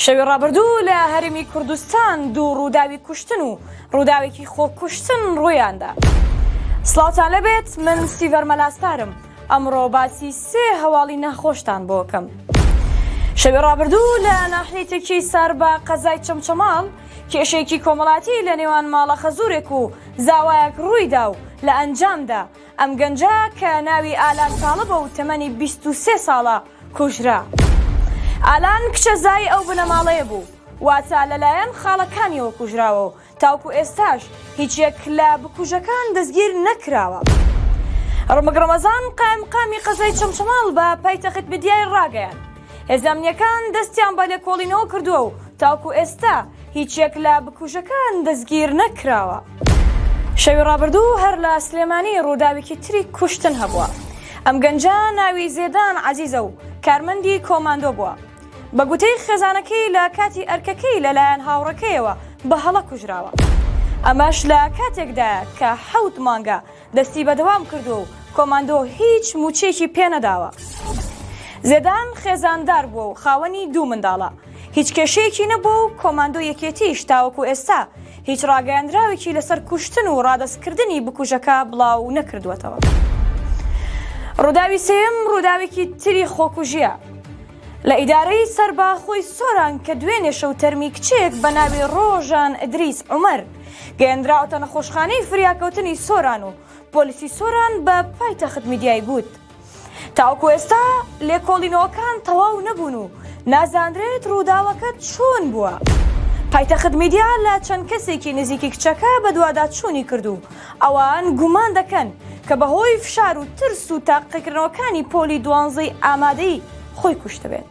شەوی ڕابردوو لە هەرێمی کوردستان دوو ڕووداوی کوشتن و ڕووداوێکی خۆکوشتن ڕوویاندا. سڵاوتان لەبێت من سیڤەر مەلاسپارم ئەمڕۆ باسی سێ هەواڵی ناخۆشتان بۆکەم. شەوی ڕابردوو لە ناحیەی تەکیەی ساربا قەزای چەمچەماڵ کێشەیەکی کۆمەڵاتی لە نێوان ماڵە خەزورێک و زاوایەک ڕوویدا و لە ئەنجامدا ئەم گەنجە کە ناوی ئالان تاڵبە و تەمەنی بیست و سێ ساڵە کوژرا. ئالان کچە زای ئەو بنەماڵەیە بوو، واتە لەلایەن خاڵەکانیەوە کوژراوە و تاوکو ئێستاش هیچ یەک لە بکوژەکان دەستگیر نەکراوە. رمک رەمەزان قائمقامی قەزای چەمچەماڵ بە پایتەخت میدیای راگەیاند، هێزە ئەمنییەکان دەستیان بە لێکۆڵینەوە کردووە و تاوکو ئێستا هیچ یەک لە بکوژەکان دەستگیر نەکراوە. شەوی ڕابردوو هەر لە سلێمانی ڕووداوێکی تری کوشتن هەبووە. ئەم گەنجە ناوی زێدان عەزیزە و کارمەندی کۆماندۆ بووە. بە گوتەی خێزانەکەی لە کاتی ئەرکەکەی لەلایەن هاوڕێکەیەوە بە هەڵە کوژراوە. ئەمەش لە کاتێکدایە کە حەوت مانگە دەستی بەدەوام کردووە و کۆماندۆ هیچ مووچەیەکی پێ نەداوە. زێدان خێزاندار بووە و خاوەنی دوو منداڵە، هیچ کێشەیەکی نەبووە و کۆماندۆ یەکێتییش تاوەکو ئێستا هیچ ڕاگەیاندراوێکی لەسەر کوشتن و ڕادەستکردنی بکوژەکە بڵاو نەکردووەتەوە. ڕووداوی سێیەم ڕووداوێکی تری خۆکوژییە لە ئیدارەی سەرباخۆی سۆران کە دوێنێ شەو تەرمی کچێک بە ناوی ڕۆژان ئیدریس عومەر، گەیەندراوەتە نەخۆشخانەی فریاکەوتنی سۆران و پۆلیسی سۆران بە پایتەخت میدیای گوت تاوکو ئێستا لێکۆڵینەوەکان تەواو نەبوون و نازانرێت ڕووداوەکە چۆن بووە. پایتەخت میدیا لە چەند کەسێکی نزیکی کچەکە بەدواداچوونی کرد و ئەوان گومان دەکەن کە بەهۆی فشار و ترس و تاقیکردنەوەکانی پۆلی دوانزەی ئامادەیی خۆی کوشتبێت.